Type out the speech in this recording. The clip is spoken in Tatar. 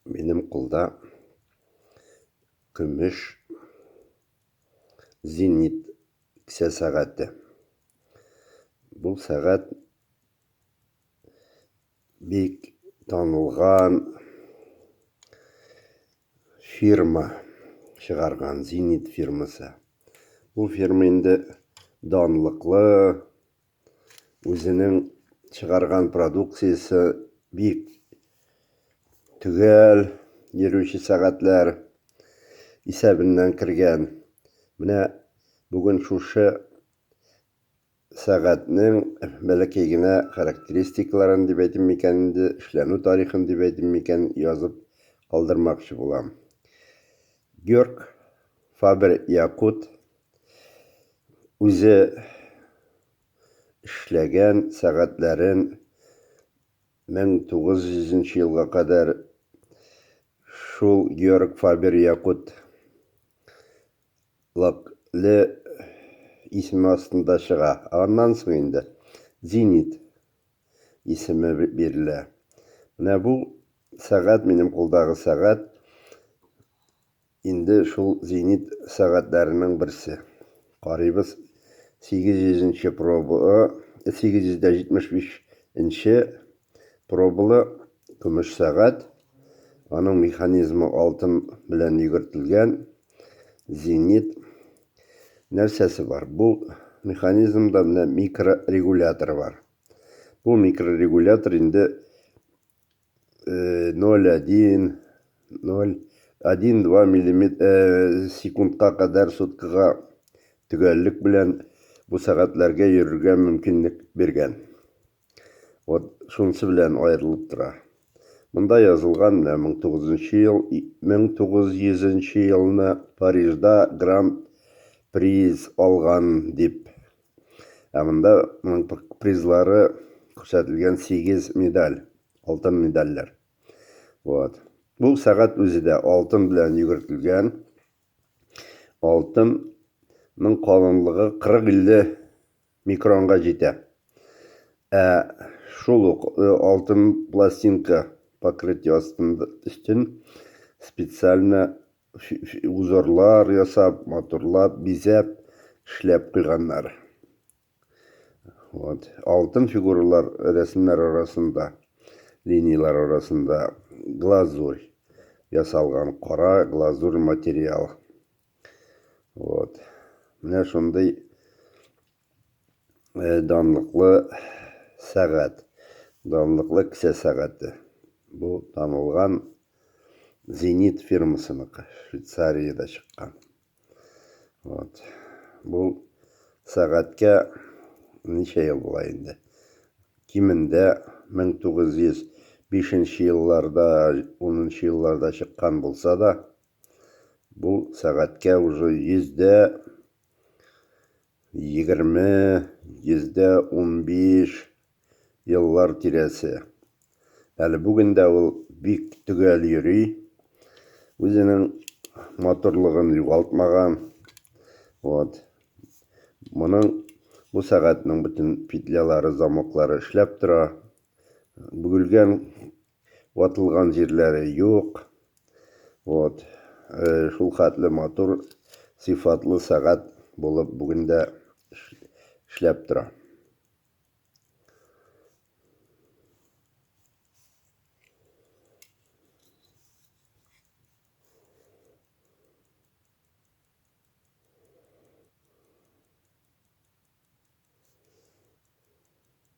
Минем кулда көмеш зенит кесә сәгате. Бу сәгать бик танылган фирма чыгарган, Зенит фирмасы. Бу фирма инде данлыклы, үзенең чыгарган продукциясе бик төгәл йөрүче сәгатьләр исәбеннән кергән. Менә бүген шушы сәгатьнең бәләкәй генә характеристикаларын дип әйтим микән инде, эшләнү тарихын дип әйтим микән, язып калдырмакчы булам. Георг Фабер-Якут үзе эшләгән сәгатьләрен 1900 елга кадәр шул Георг Фабер Якут лакле исеме астында чыга. Аннан соң инде Зенит исеме бирелә. Менә бу сәгать минем кулдагы сәгать. Инде шул зенит сәгатьләренең берсе. Карыйбыз, 800 нче проба, 875 нче пробалы көмеш сәгать. Аның механизмы алтын белән йөгертелгән. Зенит нәрсәсе бар? Бу механизмда менә микрорегулятор бар. Бу микрорегулятор инде ноль один ноль один два миллиметр секундка кадәр суткага төгәллек белән бу сәгатьләргә йөрергә мөмкинлек биргән. Вот шунысы белән аерылып тора. Монда язылган менә 1900 ел 1900 елны Парижда гранд приз алган дип. Ә монда моның призлары күрсәтелгән 8 медаль, алтын медальләр. Вот. Бу сәгать үзе дә алтын белән йөгертелгән. Алтынның калынлыгы 40-50 микронга җитә. Ә шул ук э, алтын пластинка покрытие астында өстен специально узорлар ясап, матурлап, бизәп, эшләп куйганнар. Вот. Алтын фигуралар рәсемнәр арасында, линияләр арасында глазурь ясалган, кара глазурь материал. Вот. Менә шундый э, данлыклы сәгать, данлыклы кесә сәгате. Бу танылган Зенит фирмасыныкы, Швейцариядә чыккан. Вот. Бу сәгатькә ничә ел була инде? Кимендә 1905 елларда, 10 елларда чыккан булса да, бу сәгатькә уже йөздә Егерме, йөздә унбиш еллар тирәсе. Әле бүген дә ул бик төгәл йөри, үзенең матурлыгын югалтмаган. Вот. Моның бу сәгатьнең бөтен петлялары, замоклары эшләп тора. Бүгелгән Ватылган җирләре юк. Вот. Шул хәтле матур, сыйфатлы сәгать булып бүген дә эшләп тора.